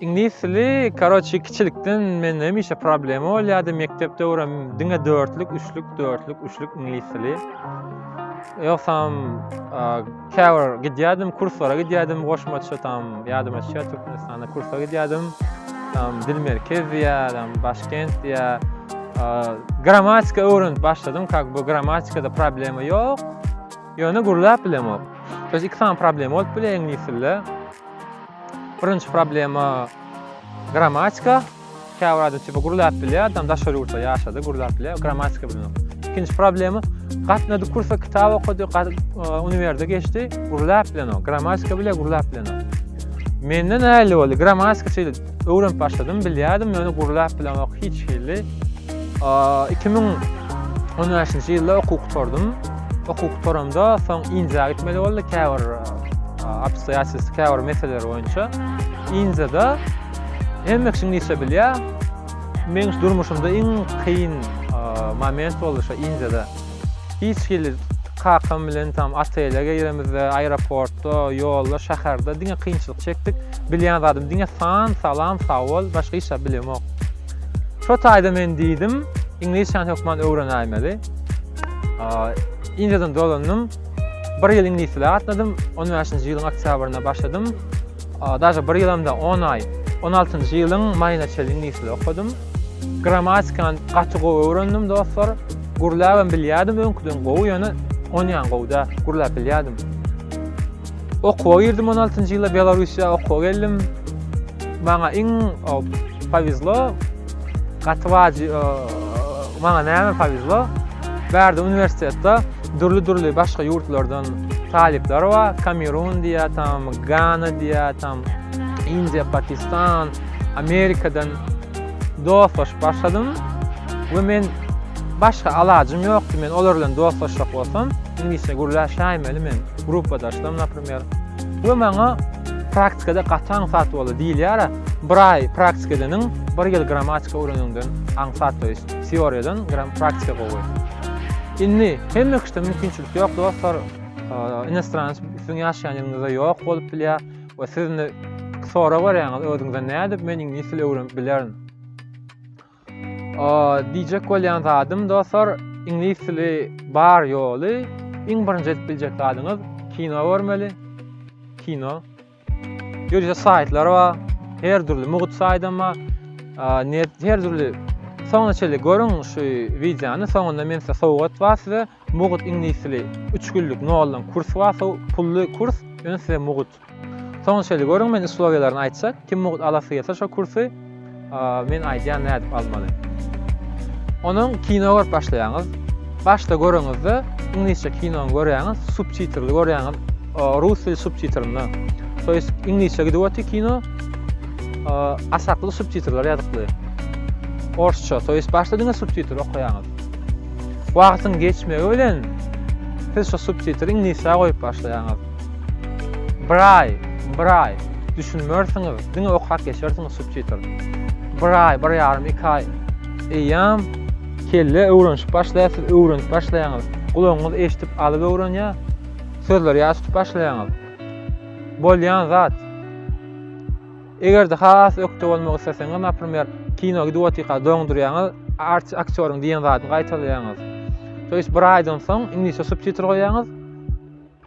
Iňlis dili karoçi kiçilikden mende hemişe problema bolýardy mekdep döwrüm diňe dörtlük üçlük dörtlük üçlük iňlis dili ýogsam käbir gidýärdim kurslara gidýärdim goşmaça tam ýadyma düşýär türkmenistanda kursa gidýärdim tam dil merkez diýär tam başkent diýär grammatika öwrenip başladym как бы grammatikada problema ýok Ýöne gürläp bilemok. Biz iki sany problema bolup biler iňlis dilde. Birinji problema grammatika. Käbir adam tipi gürläp bilýär, adam daşary ýurtda ýaşady, gürläp bilýär, grammatika bilmok. Ikinji problema gatnady kursa kitap okady, uniwerde geçdi, gürläp bilenok, grammatika bilýär, gürläp bilenok. Menden näli boldy? Grammatika şeýle. Öwrenip başladym, bilýärdim, ýöne gurlap bilemok hiç hili. 2015-nji ýylda okuw gutardym. Okuw gutaramda soň Indiýa gitmeli boldy, käbir obstoýatelstw, käbir meseleler boýunça. Indiýada hemme kişi ingilisçe bilýär. Meniň durmuşymda iň kyn moment boldy şo Indiýada. Hiç hili kakam bilen tam otele giremizde, aeroportda, ýolda, şäherde diňe kynçylyk çekdik. Bilýän zadym diňe san, salam, sag bol, başga hiç zat bilemok. Şo taýda men diýdim, iňlisçäni hökman öwrenäýmeli. Indiýadan dolandym. Bir ýyl iňlis dili gatnadym. 15-nji ýylyň oktýabrynda başladym. Daže bir ýylam da on aý, on altynjy ýylyň maýyna çenli iňlisçe okadym. Grammatikany gaty gowy öwrendim dostlar. Gürläbem bilýärdim öňküden gowy ýöne onýan gowy däl. Gürläp bilýärdim. Okuwa girdim on altynjy ýyla Belarusýa okuwa geldim. Maňa iň powezlo. Gaty waji maňa näme powezlo. Bärde uniwersitetde dürli-dürli başga ýurtlardan talyplar bar. Kamerun diýýär, tam Gana diýýär, tam Indiýa, Pakistan, Amerikadan dostlaşyp başladym. We men başga alajym ýokdy, men olar bilen dostlaşjak bolsam, iňlisçe gürläşäýmeli men gruppadaşlarym, naprimer. We maňa praktikada gaty aňsat boldy diýilýär. Bir aý praktika edeniň, bir ýyl grammatika öwreneniňden aňsat toýs. Teoriýadan gram praktika gowy. Indi hemme kişide mümkinçilik ýok dostlar. Inostranc siziň ýaşaýan ýeriňizde ýok bolup bilýär we siz indi sorag berýäňiz özüňize nädip men iňlis dili öwrenip bilerin. Diýjek bolýan zadym dostlar iňlis dili bar ýoly iň birinji edip biljek zadyňyz kino görmeli kino ýörite saýtlar bar her dürli mugt saýdam bar net her dürli soňuna çenli görüň şu wideony soňunda men size sowgat bar size mugt iňlis dili üç günlük noldan kurs bar pully kurs ýöne size mugt Soň şeýle görüň men uslowiýalaryny aýtjak. Kim mugt alasy gelse şo kursy men aýdýan nädip almaly. Onuň kino görüp başlaýaňyz. Başda göreniňizde iňlisçe kinony görýäňiz, subtitrli görýäňiz. Rus dili subtitrinde. To ýest iňlisçe gidip otyr kino. Asakly subtitrler ýazykly. Orsça, to ýest başda diňe subtitr okaýaňyz. Wagtyň geçmegi bilen siz şo subtitri iňlisçe goýup başlaýaňyz. Braý, braý, düşünmersiňiz, diňe okap geçersiňiz subtitr. Braý, bir ýarym, iki aý. Eýýam kelle öwrenşip başlaýar, siz öwrenip başlaýaňyz. Gulagyňyz eşidip alyp öwrenýär, sözleri ýat tutup başlaýaňyz. Bolýan zat. Eger-de has ökde bolmak isleseňiz, naprimer, kino gidip otyka doňdurýaňyz, artist aktýoryň diýen zadyny gaýtalaýaňyz. Toýs bir aýdan soň iňlisçe subtitr goýýaňyz.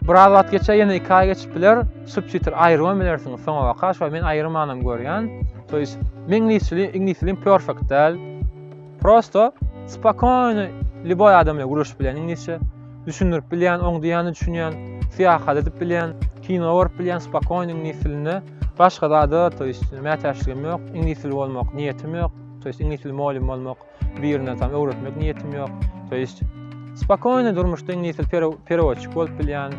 Biraz wagt geçer, ýene iki aý geçip biler, subtitr aýyrman bilersiňiz soňabaka, şoý men aýyrmanam görýän. To ýest, meň iňlis dilim, iňlis dilim perfekt däl. Prosto spokojno lýuboý adam bilen gürleşip bilýän iňlisçe. Düşündirip bilýän, oň diýýänini düşünýän, syýahat edip bilýän, kino görüp bilýän spokojno iňlis dilinde. Başga zada, to ýest, mätäçligim ýok, iňlis dili bolmak niýetim ýok, to ýest iňlis dili mugallym bolmak. Birine tam öwretmek niýetim ýok. To ýest spokojny durmuşda indi ýetil perewoçik bolup bilýän,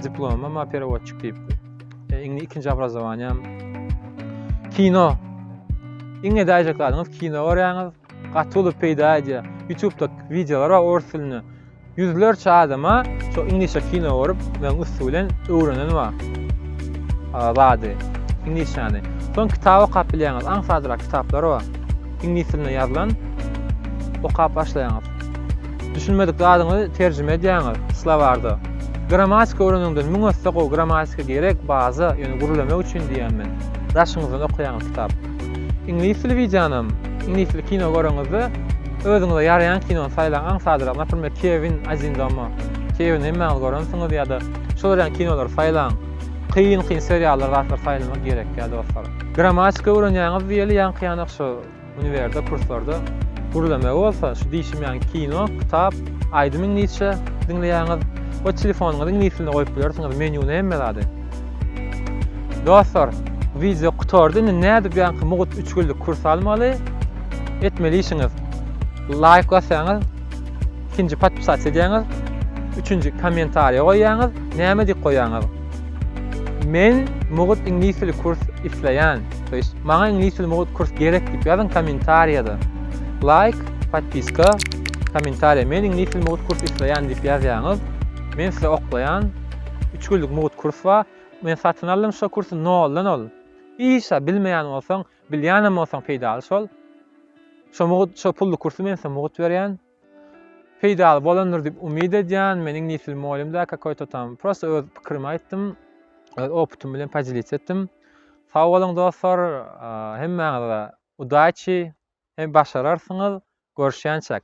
diplomym bar perewoçik diýip. E, indi ikinji obrazowaniýam kino. Iňňe daýjak zadyňyz kino görýäňiz. Gaty uly peýda edýär. YouTube-da wideolar bar ors dilinde. Ýüzlerçe adama şo iňlisçe kino görüp men üsti bilen öwrenenim bar. Zady, iňlisçäni. Soň kitap okap bilýäňiz, aňsatrak kitaplar bar. Iňlis dilinde ýazylan okap başlaýaňyz. Düşünmedik zadyňyzy terjime edýäňiz slowarda. Grammatika öwreneniňden müň esse gowy, grammatika gerek, baza, ýöne gürlemek üçin diýýän men. Daşyňyzdan okaýaňyz kitap. Iňlis dili wideonam, iňlisli kino göreňizde özüňize ýaraýan kinony saýlaň, aňsadrak, naprimer, Kewin Один дома, Kewini hemmäňiz görensiňiz ýa-da şol örän kinolary saýlaň. Kyn kyn seriallar zatlar saýlamak gerekýä dostlar. Grammatika öwrenýäňiz diýeli ýaňkyýanak şu uniwerde kurslarda gürlemegi bolsa şu diýşim ýaňy kino, kitap, aýdym iňlisçe diňleýäňiz we telefonyňyzy iňlis dilinde goýup bilersiňiz, menýuny hemme zady. Dostlar, wideo gutardy. Indi nädip ýaňky mugut üç günlük kurs almaly? Etmeli işiňiz. Laýk basýaňyz, ikinji podpisat edýäňiz, üçünji kommentariýa goýýaňyz, näme diýip goýýaňyz? Men mugut iňlis dili kurs isleýän. To ýest, maňa iňlis dili mugut kurs gerek diýip ýazyň kommentariýada. Laýk, podpiska, kommentariýa. Men iňlis dili mugut kurs isleýän diýip ýazýaňyz. Men size oklaýan. üç günlük mugt kurs bar. Men satyn aldym şo kursy noldan ol. Işa bilmeýän bolsaň, bilýänem bolsaň peýdaly şol. Şo mugt, şo pully kursy men size mugt berýän. Peýdaly bolandyr diýip umyt edýän. Men iňlisdil mugallym däl kakoýto tam. Prosta öz pikirimi aýtdym. Öz opytym bilen podelits etdim. Sag boluň dostlar, hemmäňize udaçi, hem başararsyňyz, görüşýänçäk.